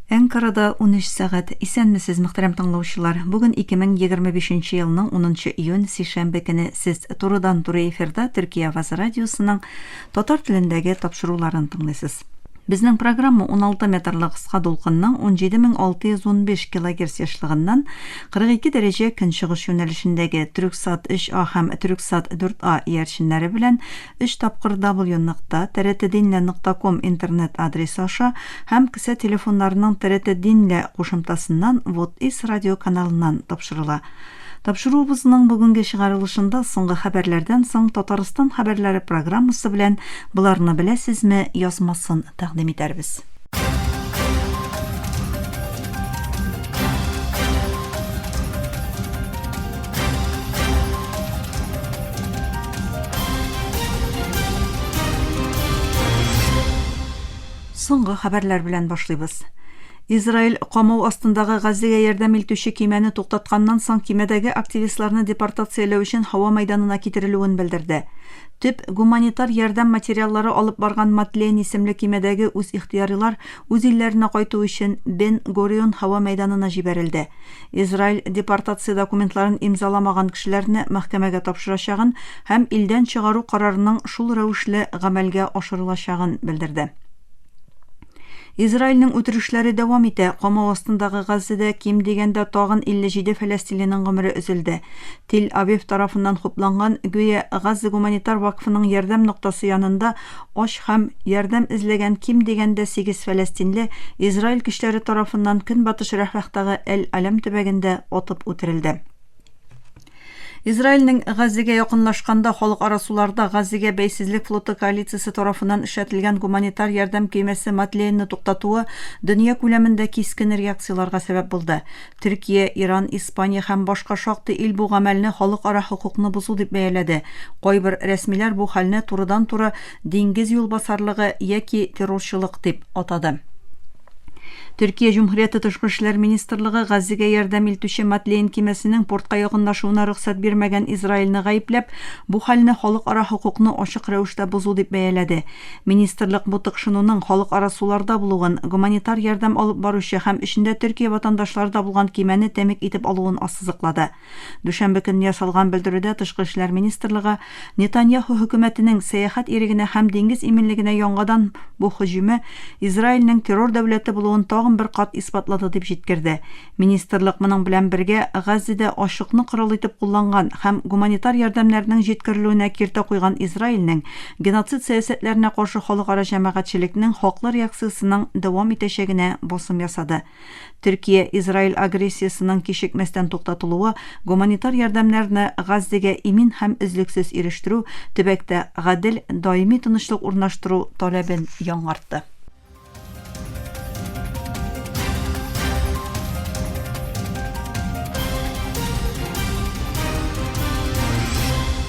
Әнкарада унөч сәгать. Исәнмесез, мөхтәрәм тыңлаучылар! Бүген 2025 нче елның унынчы июнь, сишәмбе көне. Сез турыдан-туры эфирда Төркия авазы радиосының татар телендәге тапшыруларын тыңлыйсыз. Безнең программа уналты метрлы кыска дулкынның 17615 килогерц ешлыгыннан 42 дәрәҗә көнчыгыш юнәлешендәге, Төрексат 3А һәм Төрексат 4А иярченнәре белән, Өч тапкыр W нокта Тәрәтединлә нокта ком интернет адресы аша һәм кесә телефоннарының Тәрәтединлә кушымтасыннан Вотис радиоканалыннан тапшырыла. Тапшыруыбызның бүгенге чыгарылышында Соңгы хәбәрләрдән соң Татарстан хәбәрләре программасы белән Боларны беләсезме? язмасын тәкъдим итәрбез. Соңгы хәбәрләр белән башлыйбыз. Израиль камау астындагы Газига ярдәм илтүче кимәне туктатканнан соң кимәдәге активистларны депортацияләү өчен һава мәйданына китерелүен белдерде. Төп гуманитар ярдәм материаллары алып барган Матлен исемле көймәдәге үзихтыярилар үз илләренә кайту өчен Бен Горион һава мәйданына җибәрелде. Израиль депортация документларын имзаламаган кешеләрне мәхкәмәгә тапшырачагын һәм илдән чыгару карарының шул рәвешле гамәлгә ашырылачагын белдерде. Израильнең үтерешләре дәвам итә. Камау астындагы Газзәдә ким дигәндә тагын 57 фәләстинлинең гомере өзелде. Тел-Авив тарафыннан хупланган, гүя, Газза гуманитар вакфының ярдәм ноктасы янында ач һәм ярдәм эзләгән ким дигәндә сигез фәләстинле Израиль көчләре тарафыннан Көнбатыш Рәфәхтагы Әл-Аләм төбәгендә атып үтерелде. Израильнең Газәгә якынлашканда халыкара суларда Газәгә бәйсезлек флоты коалициясе тарафыннан эшәтелгән гуманитар ярдәм көймәсе Мадлеенны туктатуы дөнья күләмендә кискен реакцияләргә сәбәп булды. Төркия, Иран, Испания һәм башка шактый ил бу гамәлне халыкара хокукны бозу дип бәяләде. Кайбер рәсмиләр бу хәлне турыдан-туры диңгез юлбасарлыгы яки террорчылык дип атады. Төркия Җөмһүрияте Тышкы эшләр министрлыгы Газзегә ярдәм илтүче Матлейн кимәсенең портка якынлашуына рөхсәт бирмәгән Израильне гаепләп, бу хәлне халыкара хокукны ачык рәвештә бозу дип бәяләде. Министрлык бу тыкшынуның халыкара суларда булуын, гуманитар ярдәм алып баручы һәм эчендә Төркия ватандашлары да булган кимәне тәмик итеп алуын ассызыклады. Дүшәмбе көнне ясалган белдерүдә Тышкы эшләр министрлыгы Нетаньяху хөкүмәтенең сәяхәт ирегенә һәм диңгез иминлегенә яңадан бу һөҗүме Израильнең террор дәүләте булуын тагын бер кат исбатлады дип җиткерде. Министрлык моның белән бергә Газзеда ачлыкны корал итеп кулланган һәм гуманитар ярдәмнәрнең җиткерелүенә киртә куйган Израильнең геноцид сәясәтләренә каршы халыкара җәмәгатьчелекнең хаклы реакциясенең дәвам итәчәгенә басым ясады. Төркия Израиль агрессиясенең кичекмәстән туктатылуы, гуманитар ярдәмнәрне Газзегә имин һәм өзлексез ирештерү, төбәктә гадел, даими тынычлык урнаштыру таләбен яңартты.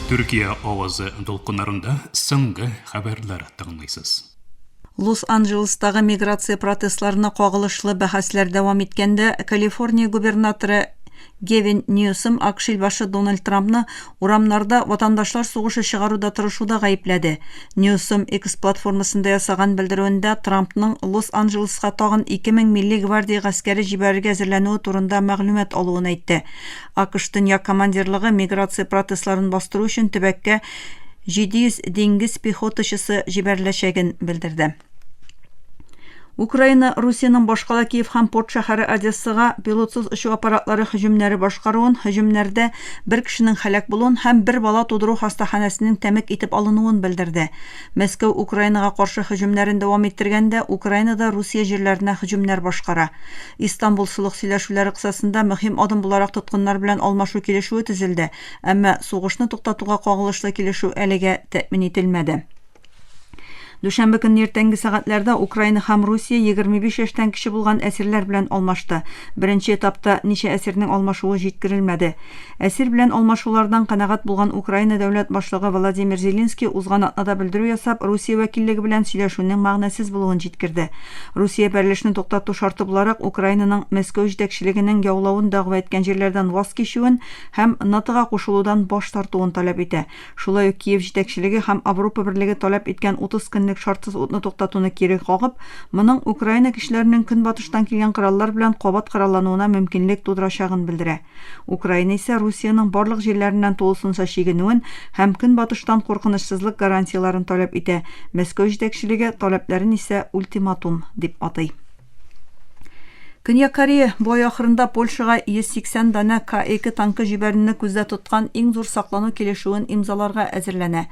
Төркия авазы дулкыннарында соңгы хәбәрләр тыңлыйсыз. Лос-Анджелестагы миграция протестларына кагылышлы бәхәсләр дәвам иткәндә, Калифорния губернаторы Гевин Ньюсом АКШ илбашы Дональд Трампны урамнарда ватандашлар сугышы чыгаруда тырышуда гаепләде. Ньюсом X платформасында ясаган белдерүендә Трампның Лос-Анджелеска тагын 2000 милли гвардия гаскәре җибәрергә әзерләнүе турында мәгълүмат алуын әйтте. АКШ Төньяк командирлыгы миграция протестларын бастыру өчен төбәккә 700 диңгез пехотачысы җибәреләчәген белдерде. Украина Русиянең башкала Киев һәм порт шәһәре Одессага пилотсыз очу аппаратлары һөҗүмнәре башкаруын, һөҗүмнәрдә бер кешенең һәлак булуын һәм бер бала тудыру хастаханәсенең тәмек итеп алынуын белдерде. Мәскәү Украинага каршы һөҗүмнәрен дәвам иттергәндә, Украина да Русия җирләренә һөҗүмнәр башкара. Истанбул солых сөйләшүләре кысасында мөһим адым буларак тоткыннар белән алмашу килешүе төзелде, әмма сугышны туктатуга кагылышлы килешү әлегә тәэмин ителмәде. Дүшәмбе көнне иртәнге сәгатьләрдә Украина һәм Русия егерме биш яшьтән кече булган әсирләр белән алмашты. Беренче этапта ничә әсирнең алмашуы җиткерелмәде. Әсир белән алмашулардан канәгать булган Украина дәүләт башлыгы Владимир Зеленский узган атнада белдерү ясап, Русия вәкиллеге белән сөйләшүнең мәгънәсез булуын җиткерде. Русия бәрелешне туктату шарты буларак Украинаның Мәскәү җитәкчелегенең яулавын дәгъва иткән җирләрдән ваз кичүен һәм НАТОга кушылудан баш тартуын таләп итә. Шулай ук Киев җитәкчелеге һәм Авропа Берлеге таләп иткән 30 көнлек шартсыз утны туктатуны кире кагып, моның Украина көчләренең көнбатыштан килгән кораллар белән кабат кораллануына мөмкинлек тудырачагын белдерә. Украина исә Русиянең барлык җирләреннән тулысынча чигенүен һәм Көнбатыштан куркынычсызлык гарантияләрен таләп итә, Мәскәү җитәкчелеге таләпләрен исә ультиматум дип атый. Көньяк Корея бу ай ахырында Польшага 180 данә К-2 танкы җибәрүне күздә тоткан иң зур саклану килешүен имзаларга әзерләнә.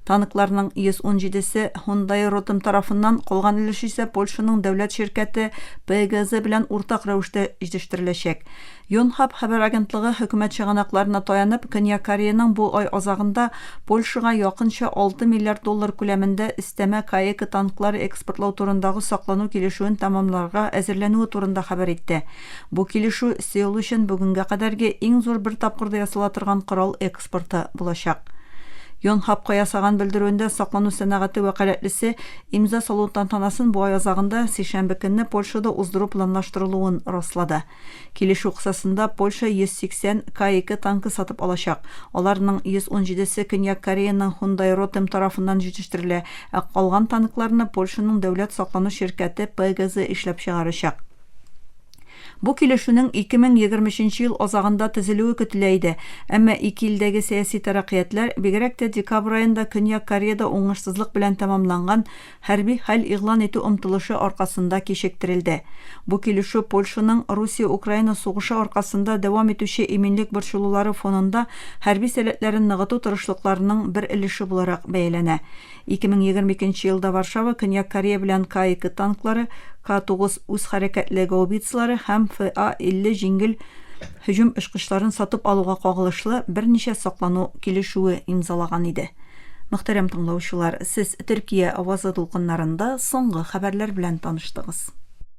Танкларның 117 се Hyundai Rotem тарафыннан, калган өлеше исә Польшаның дәүләт ширкәте PGZ белән уртак рәвештә җитештереләчәк. Йонхап хәбәр агентлыгы хөкүмәт чыганакларына таянып, Көньяк Кореяның бу ай азагында Польшага якынча 6 миллиард доллар күләмендә өстәмә Каэко танклары экспортлау турындагы саклану килешүен тәмамларга әзерләнүе турында хәбәр итте. Бу килешү Сеул өчен бүгенгә кадәрге иң зур бер тапкырда ясала торган корал паспорты булачак. Йонхапка ясаган белдерүендә саклану сәнәгате вәкаләтлесе имза салу тантанасын бу ай азагында, сишәмбе көнне Польшада уздыру планлаштырылуын раслады. Килешү кысасында Польша 180 К-2 танкы сатып алачак. Аларның 117 се Көньяк Кореяның Hyundai Rotem тарафыннан җитештерелә, ә калган танкларны Польшаның дәүләт саклану ширкәте ПГЗ эшләп чыгарачак. Бу килешүнең 2023 ел азагында төзелүе көтелә иде, әмма ике илдәге сәяси тәрәкыятьләр, бигрәк тә декабрь аенда Көньяк Кореяда уңышсызлык белән тәмамланган хәрби хәл игълан итү омтылышы аркасында кичектерелде. Бу килешү Польшаның Русия-Украина сугышы аркасында дәвам итүче иминлек борчылулары фонында хәрби сәләтләрен ныгыту тырышлыкларының бер өлеше буларак бәяләнә. 2022 елда Варшава Көньяк Корея белән К-2 танклары, К-9 үз хәрәкәтле гаубицалары һәм ФА-50 җиңел һөҗүм очкычларын сатып алуга кагылышлы берничә саклану килешүе имзалаган иде. Мөхтәрәм тыңлаучылар, сез Төркия авазы дулкыннарында соңгы хәбәрләр белән таныштыгыз.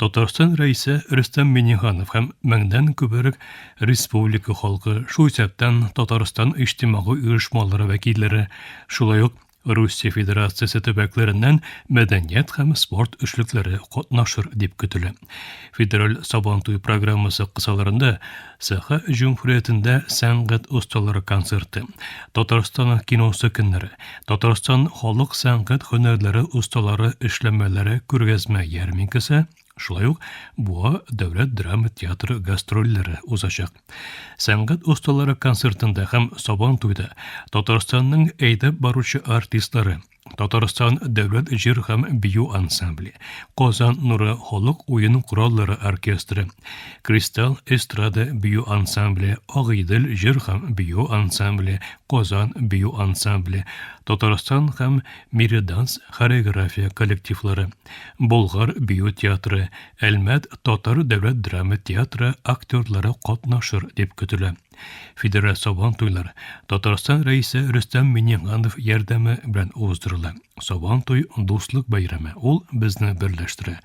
Татарстан Рәисе Рөстәм Миңнеханов һәм меңнән күбрәк республика халкы, шул исәптән Татарстан иҗтимагый оешмалары вәкилләре, шулай ук Русия Федерациясе төбәкләреннән мәдәният һәм спорт эшлекләре катнашыр дип көтелә. Федераль Сабантуй программасы кысаларында Саха җөмһүриятендә сәнгать осталары концерты, Татарстан киносы көннәре, Татарстан халык сәнгать һөнәрләре осталары эшләмәләре күргәзмә ярминкасы, шулай ук Буа дәүләт драма театры гастрольләре узачак. Сәнгать осталары концертында һәм Сабан туйда Татарстанның әйдәп баручы артистлары, Татарстан дәүләт җыр һәм бию ансамбле, Казан нуры халык уен кораллары оркестры, Кристалл эстрада бию ансамбле, Агыйдел җыр һәм бию ансамбле, Казан бию ансамбле, Татарстан һәм Мириданс хореография коллективлары, Болгар бию театры, Әлмәт татар дәүләт драма театры актерлары катнашыр дип көтелә. Федераль Сабан туйлары Татарстан рәисе Рөстәм Миңнеханов ярдәме белән уздырыла. Сабан туй дуслык бәйрәме. Ул безне берләштерә.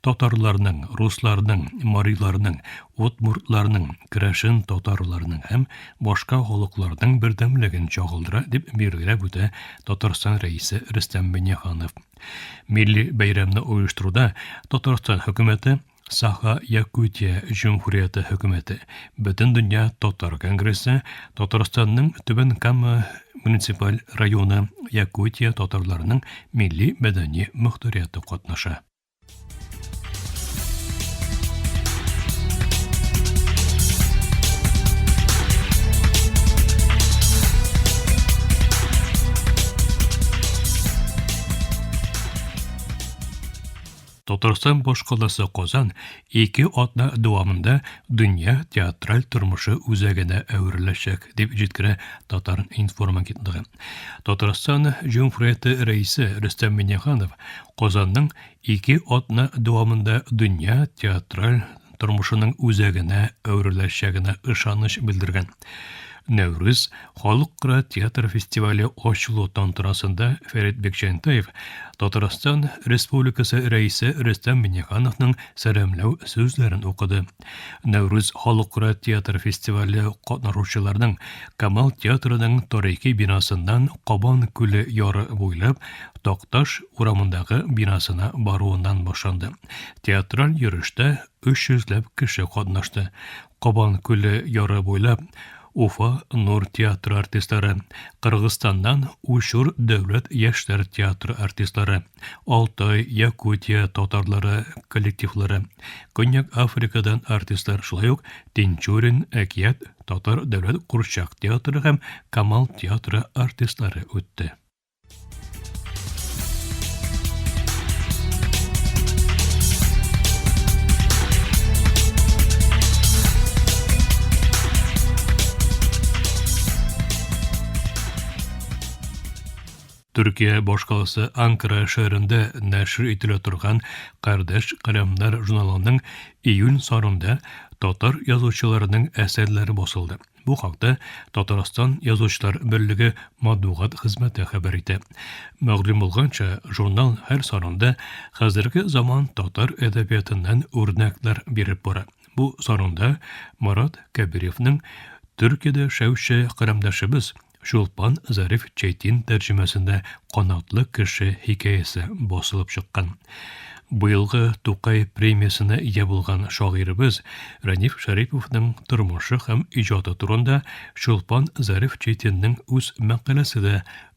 Татарларның, русларның, мариларның, удмуртларның, керәшен татарларның һәм башка халыкларның бердәмлеген чагылдыра, дип билгеләп үтә Татарстан рәисе Рөстәм Миңнеханов. Милли бәйрәмне оештыруда Татарстан хөкүмәте, Саха-Якутия Җөмһүрияте Хөкүмәте, Бөтендөнья татар конгрессы, Татарстанның Түбән Кама муниципаль районы Якутия татарларының милли-мәдәни мөхтәрияте катнаша. Татарстан башкаласы Казан ике атна дәвамында дөнья театраль тормышы үзәгенә әвереләчәк, дип җиткерә Татар-информ агентлыгы. Татарстан Җөмһүрияте рәисе Рөстәм Миңнеханов Казанның ике атна дәвамында дөнья театраль тормышының үзәгенә әвереләчәгенә ышаныч белдергән. Нәүрүз халыкара театр фестивале ачылу тантанасында Фәрит Бекҗәнтаев Татарстан Республикасы рәисе Рөстәм Миннехановның сәламләү сүзләрен укыды. Нәүрүз халыкара театр фестивале катнашучыларының Камал театрының тарихи бинасыннан Кабан күле яры буйлап Такташ урамындагы бинасына баруыннан башланды. Театраль йөрештә 300 ләп кеше катнашты. Кабан күле яры буйлап Уфа Нур театры артистлары, Кыргызстаннан Учур дәүләт яшьләр театры артистлары, Алтай, Якутия татарлары коллективлары, Көньяк Африкадан артистлар, шулай ук Тинчурин, Әкият, Татар дәүләт курчак театры һәм Камал театры артистлары үтте. Төркия башкаласы Анкара шәһәрендә нәшер ителә торган Кардәш каләмнәр журналының июнь санында татар язучыларының әсәрләре басылды. Бу хакта Татарстан Язучылар берлеге матбугат хезмәте хәбәр итә. Мәгълүм булганча, журнал һәр санында хәзерге заман татар әдәбиятыннан үрнәкләр биреп бара. Бу санында Марат Кәбиревнең Төркиядә яшәүче кырымдашыбыз Чулпан Зариф Чайтин тәрҗемәсендә Канатлы кеше хикәясе басылып чыккан. Быелгы Тукай премиясенә ия булган шагыйребез Рәниф Шәриповның тормышы һәм иҗаты турында Чулпан Зариф Чайтинның үз мәкаләсе дә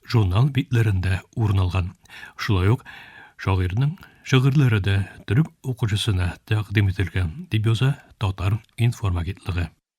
журнал битләрендә урын алган. Шулай ук шагыйрьнең шигырьләре дә төрек укучысына тәкъдим ителгән, дип яза Татар информ агентлыгы.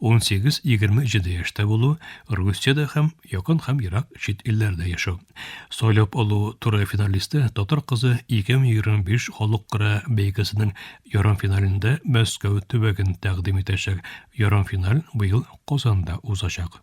18-20 җиде яшьтә булу, Русиядә һәм якын һәм ерак чит илләрдә яшәү. Сайлап алу туры финалисты татар кызы 2025 халыкара бәйгесенең ярымфиналендә Мәскәү төбәген тәкъдим итәчәк. Ярымфиналь быел Казанда узачак.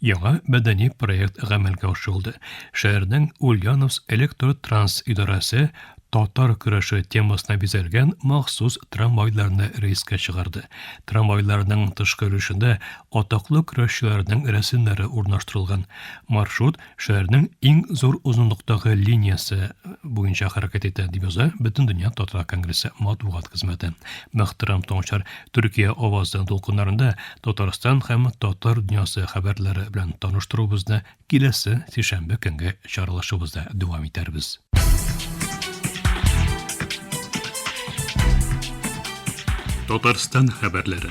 Яңа мәдәни проект гамәлгә ашырылды. Шәһәрнең Ульяновск электротранс идарәсе татар көрәше темасына бизәлгән махсус трамвайларны рейска чыгарды. Трамвайларның тышкы өлешендә атаклы көрәшчеләрнең рәсемнәре урнаштырылган. Маршрут шәһәрнең иң зур озынлыктагы линиясе буенча хәрәкәт итә, дип яза Бөтендөнья татар конгрессы матбугат хезмәте. Мөхтәрәм таңчар, Төркия авазы дулкыннарында Татарстан һәм татар дөньясы хәбәрләре белән таныштыруыбызны киләсе сишәмбе көнге чаралашыбызда дәвам итәрбез. Татарстан хәбәрләре.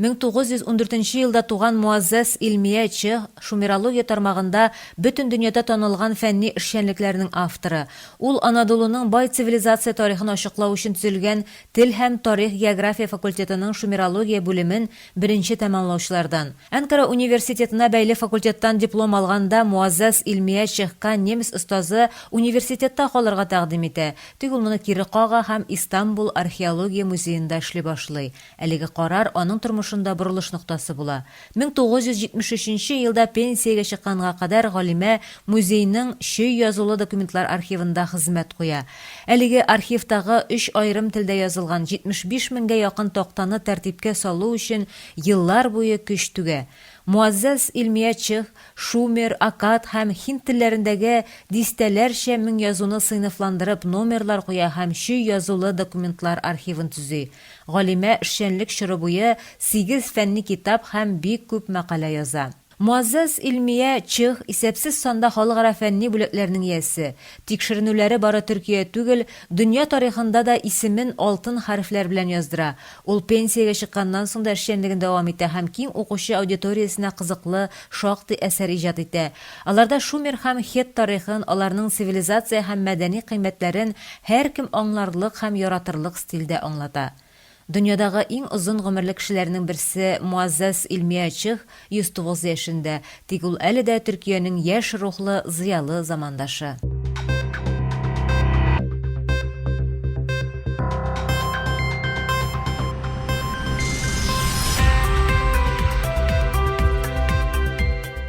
Мең тугыз йөз ундүртенче елда туган Муаззәс Илмия Че шумерология тармагында бөтен дөньяда танылган фәнни эшчәнлекләрнең авторы. Ул Анадолуның бай цивилизация тарихын ачыклау өчен төзелгән Тел һәм тарих-география факультетының шумерология бүлемен беренче тәмамлаучылардан. Әнкара университетына бәйле факультеттан диплом алганда Муаззәс Илмия Чехка немец остазы университетта калырга тәкъдим итә, тик ул моны кире кага һәм Истанбул археология музеенда эшли башлый. Әлеге карар аның тормышында борылыш ноктасы була. 1973 нче елда пенсиягә чыкканга кадәр галимә музейның чөй язулы документлар архивында хезмәт куя. Әлеге архивтагы өч аерым телдә язылган 75 меңгә якын тактаны тәртипкә салу өчен еллар буе көч түгә. Муаззәз Илмия чех, шумер, акад һәм һинд телләрендәге дистәләрчә мең язуны сыйныфландырып номерлар куя һәм чөй язулы документлар архивын төзи. Галимә эшчәнлек чоры буе сигез фәнни китап һәм бик күп мәкалә яза. Муаззәз Илмия Чех исәпсез санда халыкара фәнни бүләкләрнең иясе. Тикшеренүләре бары Төркия түгел, дөнья тарихында да исемен алтын хәрефләр белән яздыра. Ул пенсиягә чыкканнан соң да эшчәнлеген дәвам итә һәм киң укучы аудиториясенә кызыклы шактый әсәр иҗат итә. Аларда шумер һәм хет тарихын, аларның цивилизация һәм мәдәни кыйммәтләрен һәркем аңларлык һәм яратырлык стильдә аңлата. Дөньядагы иң озын гомерле кешеләрнең берсе Муаззәз Илмия Чых 109 яшендә, тик ул әле дә Төркиянең яшь рухлы, зыялы замандашы.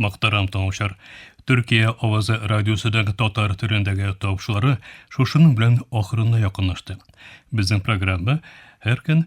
Мактарам таңучар. Төркия авазы радиосыдан татар төрендәге тавышлары шушының белән ахырына якынлашты. Безнең программа һәр көн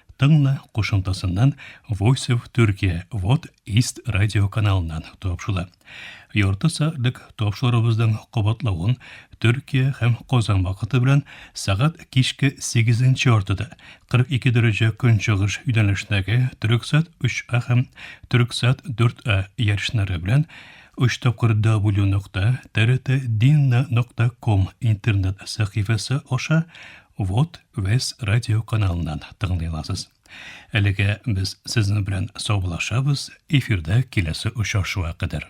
Тыңла кушымтасыннан Voice of Turkey Вот Ист радио каналыннан тапшыла. Ярты сәгатьлек тапшырыбызның кабатлавын Төркия һәм Казан вакыты белән сәгать кичке 8 яртыда 42 дәрәҗә көнчыгыш юнәлешендәге Төрксат 3А һәм Төрксат 4А ярышлары белән 3 тапкыр w.trt.dinna.com интернет сәхифәсе аша Вот вес радио каналыннан тыңлыйласыз. Әлегә без сезнең белән саубулашабыз, эфирда киләсе очрашуга кадәр.